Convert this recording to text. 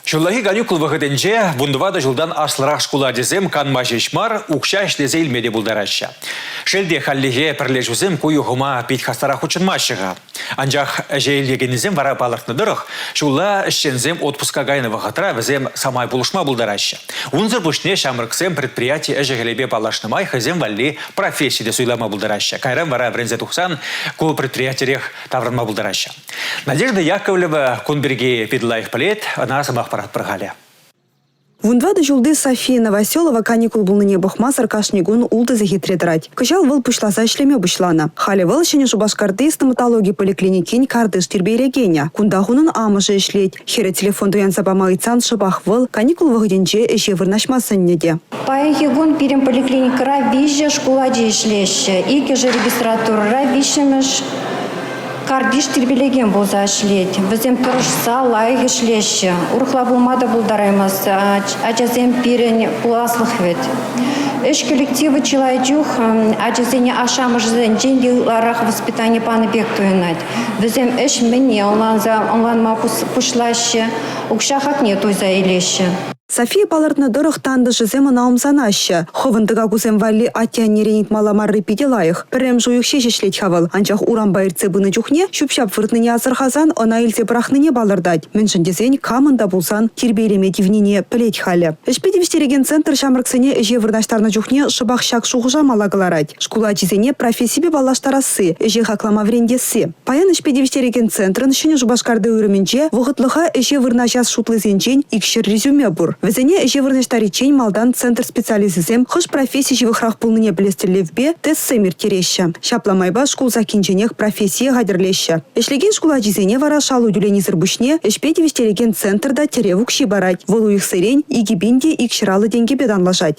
Ҫуллахи каникул вӑхӑтӗнче вунтӑватӑ ҫултан аслӑрах шкул ачасем канма ҫеҫ мар, укҫа ӗҫлесе илме те пултараҫҫӗ. Шел те, хальлӗхе пӗрлешӳсем ку юхӑма пит хастарах хутшӑнмаҫҫӗ-ха. Анчах ӗҫе илекеннисем вара палӑртнӑ тӑрӑх, ҫулла ӗҫченсем отпуска кайнӑ вӑхӑтра вӗсем самай пулӑшма пултараҫҫӗ. Унсӑр пуҫне ҫамрӑксем предприяти ӗҫӗ-хӗлӗпе паллашнӑ май хӑйсем валли професси те суйлама пултараҫҫӗ. Кайран вара вӗренсе тухсан ку предприятирех таврӑнма пултараҫҫӗ. Надежда Яковлева кун пирки пит лайӑх пӗлет, ӑна сӑмах паратпӑр халӗ. Вун тӑватӑ ҫулти София Новоселова каникул пулнине пӑхмасӑр кашни кун ултӑ сехетре тӑрать. Кӑҫал вӑл пуҫласа ӗҫлеме пуҫланӑ. Халӗ вӑл Ҫӗнӗ Шупашкарти стоматологи поликлиникин картиш тирпейлекенӗ. Кунтах унӑн амӑшӗ ӗҫлет. Хӗрӗ телефон туянса пама ыйтсан шӑпах вӑл каникул вӑхӑтӗнче ӗҫе вырнаҫма сӗннӗ те. Паянхи кун пирӗн поликлиникӑра виҫӗ шкул ачи ӗҫлеҫҫӗ. Иккӗшӗ регистратурӑра, виҫҫӗмӗш Картиш тирпейлекен пулса ӗҫлет. Вӗсем тӑрӑшса лайӑх ӗҫлеҫҫӗ. Урӑхла пулма та пултараймасть. Ачасем пирӗн пуласлӑх вӗт. Ӗҫ коллективӗ чылай чух ачасене ашшӗ-амӑшӗсенчен те ытларах воспитани панӑ пек туйӑнать. Вӗсем ӗҫ мӗнне ӑнланса ӑнланма пуҫлаҫҫӗ, укҫа хакне туйса илеҫҫӗ. София палӑртнӑ тӑрӑх тантӑшӗсем ӑна ӑмсанаҫҫӗ. Хӑвӑн тӑкакусем валли атте-аннерен ыйтмалла марри питӗ лайӑх. Пӗрремӗш уйӑх ҫеҫ ӗҫлет-ха вӑл, анчах урампа иртсе пынӑ чухне ҫӳп-ҫап выртнине асӑрхасан ӑна илсе пӑрахнине палӑртать. Мӗншӗн тесен камӑн та пулсан тирпейлеме тивнине пӗлет халӗ. Ӗҫпе тивӗҫтерекен центр ҫамрӑксене ӗҫе вырнаҫтарнӑ чухне шӑпах ҫак шухӑша мала кӑларать. Шкул ачисене профессипе паллаштарасси, ӗҫе хаклама вӗрентесси. Паян ӗҫпе тивӗҫтерекен центрӑн Ҫӗнӗ Шупашкарти уйрӑмӗнче вӑхӑтлӑха ӗҫе вырнаҫас шутлисенчен икҫӗр резюме пур. Вӗсене ӗҫе вырнаҫтариччен малтан центр специалисчӗсем хӑш професси ҫывӑхрах пулнине пӗлес тӗллевпе тестсем ирттереҫҫӗ. Ҫапла майпа шкул саккинченех профессие хатӗрлеҫҫӗ. Ӗҫлекен шкул ачисене вара шалу тӳленисӗр пуҫне ӗҫпе тивӗҫтерекен центр та тӗрев укҫи парать. Вӑл уйӑхсерен икӗ пин те икҫӗр аллӑ тенкӗпе танлашать.